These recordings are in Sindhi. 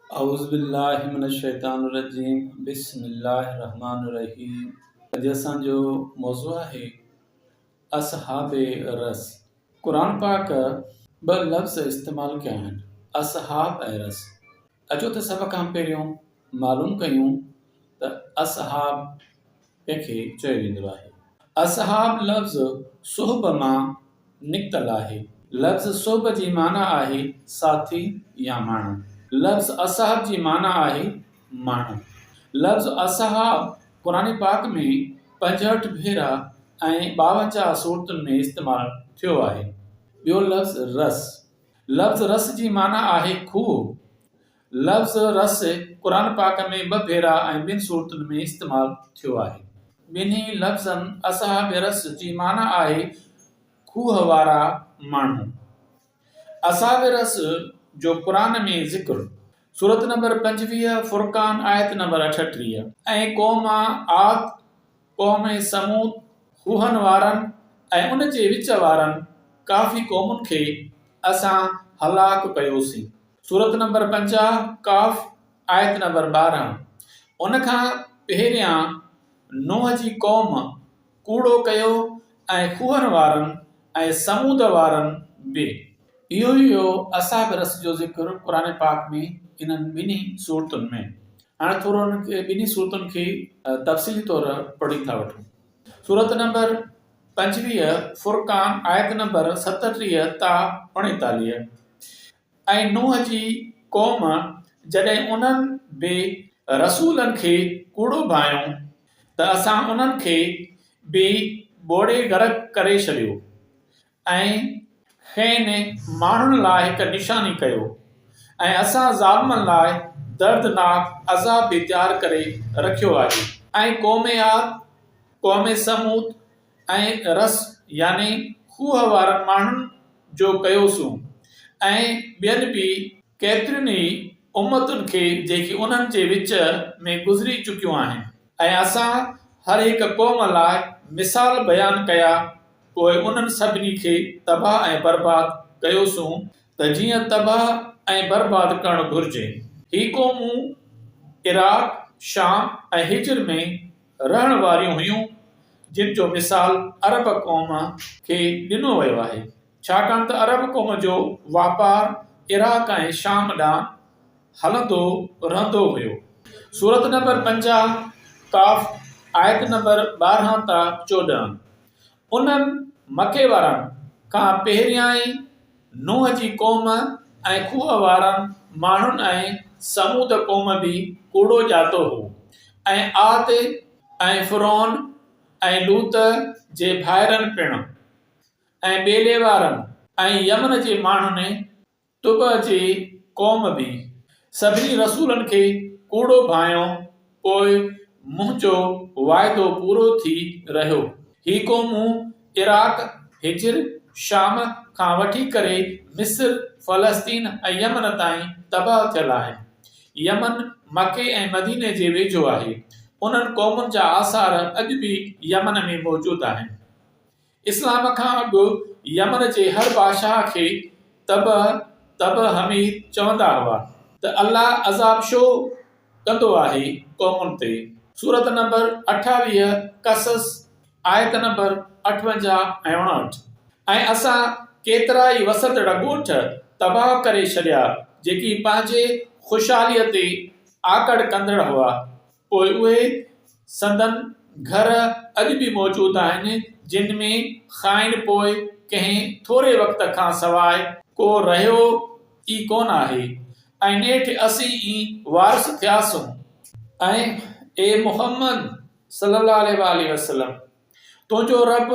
اعوذبالله من الشيطان الرجيم بسم الله الرحمن الرحيم اڄ اسان جو موضوع آهي اصحاب رس قرآن پاڪ ٻه لفظ استعمال ڪيا آهن اصحاب ۽ رس اچو ته سڀ کان پهريون معلوم ڪيون ته اصحاب تنهن کي چيو ويندو آهي. اصحاب لفظ صحب مان نڪتل آهي. لفظ صحب جي معنيٰ آهي ساٿي يا ماڻهو. لفظ اصحاب جي معنيٰ آهي ماڻهو. لفظ اصحاب قرآن پاڪ ۾ پنجهٺ ڀيرا ۽ ٻاونجاهه سورتن ۾ استعمال ٿيو آهي. ٻيو لفظ رس. لفظ رس جي معنيٰ آهي کوهه. لفظ رس قرآن پاڪ ۾ ٻه ڀيرا ۽ ٻن صورتن ۾ استعمال ٿيو آهي. ٻنهي لفظن اصحاب رس جي معنيٰ آهي کوهه وارا ماڻهو. اصحاب رس جو قرآن ۾ ذڪر سورت نمبر پنجويهه فرقان آيت نمبر اٺٽيهه. ۽ قوم عاد، قوم ثمود، خوهن وارن ۽ ان جي وچ وارن ڪافي قومن کي اسان هلاڪ ڪيوسين. سورت نمبر پنجاهه، قاف، آيت نمبر ٻارهن، ان کان پهريان نوح جي قوم ڪوڙو ڪيو ۽ خوهن وارن ۽ ثمود وارن به. اهو ئي هو اصحاب رس جو ذڪر قرآن پاڪ ۾ انهن ٻنهي سورتن ۾. هاڻي ٿورو انهن ٻنهي صورتن کي تفصيلي طور پڙهي ٿا وٺون. سورت نمبر پنجويهه فرقان آيت نمبر ستٽيهه تا اڻيتاليهه ۽ نوح جي قوم جڏهن انهن بي رسولن کي ڪوڙو ڀانئيون ته اسان انهن کي به ٻوڙي غرق ڪري ڇڏيو ۽ کين ماڻهن لاء هڪ نشاني ڪيو ۽ اسان ظالمن لاء دردناڪ عذاب به تيار ڪري رکيو آهي. ۽ قوم عاد، قوم ثمود ۽ رس يعني کوهه وارن ماڻهن جو ڪيوسون ۽ ٻين به ڪيترين ئي امتن کي جيڪي انهن جي وچ ۾ گذري چڪيون آهن ۽ اسان هر هڪ قوم لاء مثال بيان ڪيا پوء انهن سڀني کي تباهه ۽ برباد ڪيوسون ته جيئن تباهه ۽ برباد ڪرڻ گهرجي. هي قومون عراق، شام ۽ حجر ۾ رهڻ واريون هيون، جن جو مثال عرب قوم کي ڏنو ويو آهي، ڇاڪاڻ ته عرب قوم جو واپار عراق ۽ شام ڏانهن هلندو رهندو هيو. سورت نمبر پنجاهه، قاف، آيت نمبر ٻارهن تان چوڏهن. انهن مڪي وارن کان پهريائين نوح جي قوم ۽ کوهه وارن ماڻهن ۽ ثمود قوم به ڪوڙو ڄاتو هو ۽ عاد ۽ فرعون ۽ لوط جي ڀائرن پڻ ۽ ٻيلي وارن ۽ يمن جي ماڻهن طبع جي قوم به سڀني رسولن کي ڪوڙو ڀانئيو، پوء منهنجو واعدو پورو ٿي رهيو. هي قومون عراق، حجر، شام کان وٺي ڪري مصر، فلسطين ۽ يمن تائين تباهه ٿيل آهن. يمن مڪي ۽ مديني جي ويجهو آهي. انهن قومن جا آثار اڄ به يمن ۾ موجود آهن. اسلام کان اڳ يمن جي هر بادشاهه کي تبع تبع حميد چوندا هئا ته الله عذاب شو ڪندو آهي قومن تي سورت نمبر اٺاويهه قصص آيت نمبر اٺونجاهه ۽ اڻاهٺ ۽ اسان ڪيترا ئي وسندڙ ڳوٺ تباهه ڪري ڇڏيا جيڪي پنهنجي خوشحاليء تي آڪڙ ڪندڙ هئا. پوء اهي سندن گهر اڄ به موجود آهن، جن ۾ کانئن پوء ڪنهن ٿوري وقت کان سواء ڪو رهيو ئي ڪونه آهي ۽ نيٺ اسين ئي وارث ٿياسون. ۽ اي محمد صلّي اللّٰه عليه واٰله وسلّم! تنهنجو ربّ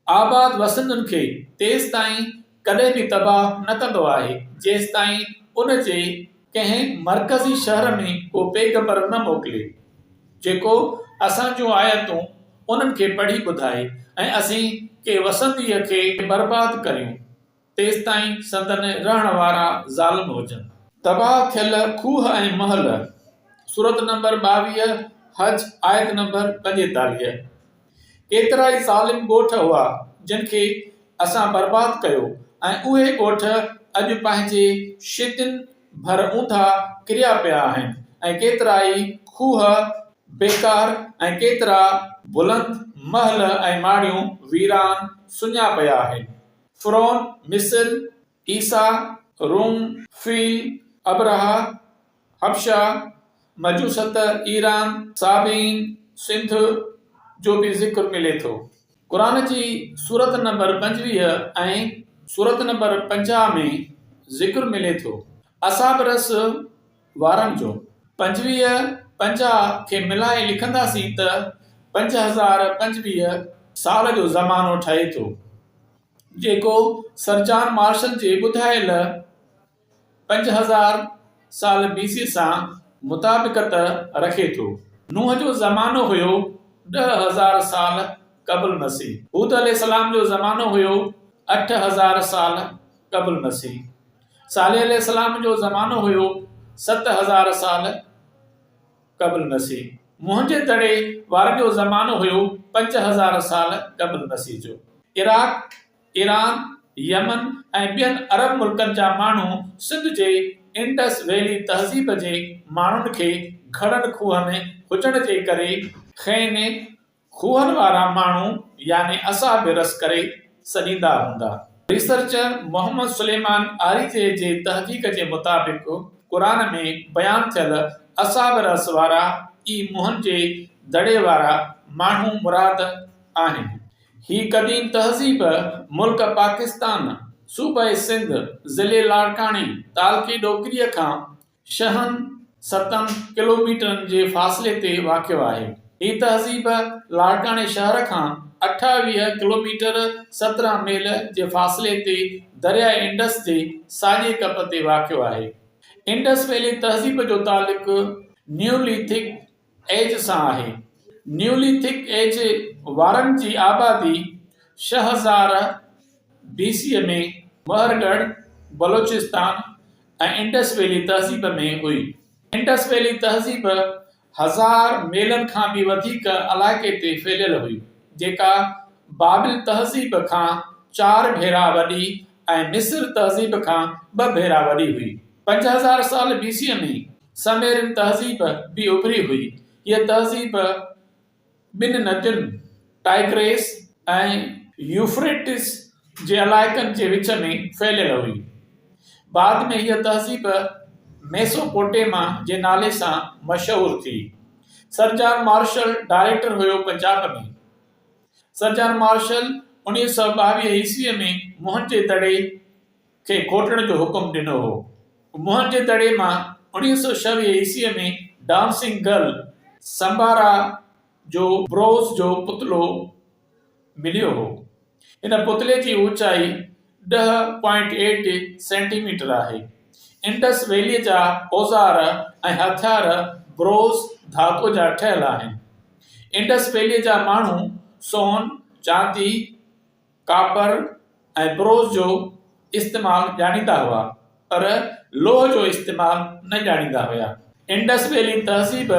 آباد وسندن کي تيستائين ڪڏهن به تباهه نه ڪندو آهي، جيستائين ان جي ڪنهن مرڪزي شهر ۾ ڪو پيغمبر نه موڪلي، جيڪو اسان جون آيتون انهن کي پڙهي ٻڌائي ۽ اسين ڪي وسنديء کي برباد ڪريون. تيستائين سندن رهڻ وارا ظالم هجن. تباهه ٿيل کوهه ۽ محل، سورت نمبر ٻاويهه، حج، آيت نمبر پنجيتاليهه، ڪيترائي ظالم ڳوٺ هئا جن کي اسان برباد ڪيو ۽ اهي ڳوٺ اڄ پنهنجي شيدين ڀر اونڌا ڪريا پيا آهن ۽ ڪيترائي کوهه بيڪار ۽ ڪيترا بلند محل ۽ ماڙيون ويران سڃا پيا آهن فرعون، مصر، عيسيٰ، روم، فيل، ابرهه، حبشه، مجوست، ايران، صابين، سنڌ جو به ذڪر ملي ٿو. قرآن جي سورت نمبر پنجويهه ۽ سورت نمبر پنجاهه ۾ ذڪر ملي ٿو. اصحاب رس وارن جو پنجويهه پنجاهه کي ملائي لکنداسين ته پنج هزار پنجويهه سال جو زمانو ٺهي ٿو، جيڪو سر جان مارشل جي ٻڌايل پنج هزار سال بي سي سان مطابقت رکي ٿو. نوح جو زمانو هيو ڏهه هزار سال قبل مسيح. هود عليه السلام جو زمانو هيو اٺ هزار سال قبل مسيح. صالح عليه السلام جو زمانو هيو ست هزار سال قبل مسيح. منهنجي دڙي وارن جو زمانو هيو پنج هزار سال قبل مسيح جو. عراق، ايران، يمن ۽ ٻين عرب ملڪن جا ماڻهو سنڌ جي انڊس ويلي تهذيب جي ماڻهن کي گهڙن کوهن هجڻ جي ڪري، خين، کوهن وارا ماڻهو يعني اسان به رس ڪري سڏيندا هوندا. ريسرچر محمد سليمان آريجي جي تحقيق جي مطابق قرآن ۾ بيان ٿيل اصحاب رس وارا ئي منهن جي دڙي وارا ماڻهو مراد آهن. هي قديم تهذيب ملڪ پاڪستان صوبه سنڌ ضلعي لاڙڪاڻي تعلقي ڏوڪري کان شهن ستن ڪلوميٽرن جي فاصلي تي واقع آهي. هي تهذيب لاڙڪاڻي شهر کان اٺاويهه ڪلوميٽر، سترهن ميل، جي فاصلي تي درياء انڊس جي ساڄي ڪپ تي واقع آهي. انڊس ويلي تهذيب جو تعلق نيوليٿڪ ايج سان آهي. نيوليٿڪ ايج وارن جي آبادي ڇهه هزار بي سي ۾ مهر ڳڙهه، بلوچستان ۽ انڊس ويلي تهذيب ۾ هئي. انڊس ويلي تهذيب هزار ميلن کان به وڌيڪ علائقي تي ڦهليل هئي، جيڪا بابل تهذيب کان چار ڀيرا وڏي ۽ مصر تهذيب کان ٻه ڀيرا وڏي هئي. پنج هزار سال بي سي ۾ سميرن تهذيب به اڀري هئي. هيء تهذيب ٻن ندين ٽائگريس ۽ يوفريٽس جي علائقن جي وچ ۾ ڦهليل هئي. بعد ۾ هيء تهذيب ميسوپوٽيما جي نالي سان مشهور ٿي. سر جان مارشل ڊائريڪٽر هيو پنجاب ۾. سر جان مارشل انويهه سؤ ٻاويهه عيسويء ۾ موهن جي دڙي کي کوٽڻ جو حڪم ڏنو هو. موهن جي دڙي مان اوڻيهه سؤ ڇويهه عيسويء ۾ ڊانسنگ گرل سمبارا جو بروز جو پتلو مليو هو. هن پتلي جي اوچائي ڏهه پوائنٽ ايٽ سينٽي ميٽر آهي. انڊس ويليء جا اوزار ۽ هٿيار بروز ڌاتوء جا ٺهيل آهن. انڊس ويليء جا ماڻهو سون، چاندي، ڪاپر ۽ بروز جو استعمال ڄاڻيندا هئا پر لوهه جو استعمال نه ڄاڻيندا هيا. انڊس ويلي تهذيب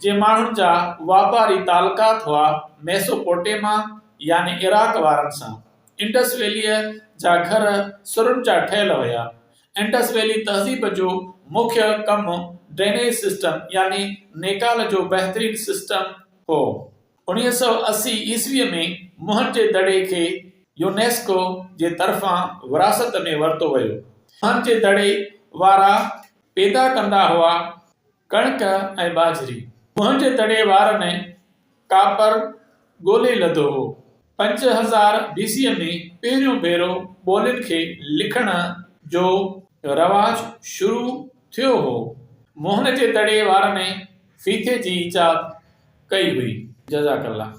جي ماڻهن جا واپاري تعلقات هئا ميسوپوٽيما يعني عراق وارن سان. انڊس ويليء جا گهر سرن جا ٺهيل هيا. انڊس ويلي تهذيب جو مکيه ڪم ڊرينيج سسٽم يعني نيڪال جو بهترين سسٽم هو. انهيء سؤ اسي عيسويء ۾ مهن جي دڙي کي يونيسڪو جي طرفان وراثت ۾ ورتو ويو. مهن جي دڙي وارا پيدا ڪندا هئا ڪڻڪ ۽ ٻاجهري. مهن جي دڙي وارن ڪاپر ڳولي لڌو هو. پنج هزار بيسيء ۾ پهريون ڀيرو ٻولين کي لکڻ جو رواج شروع ٿيو هو. موهن جي دڙي وارن فيٿي جي ايجاد ڪئي هئي. جزاڪ الله.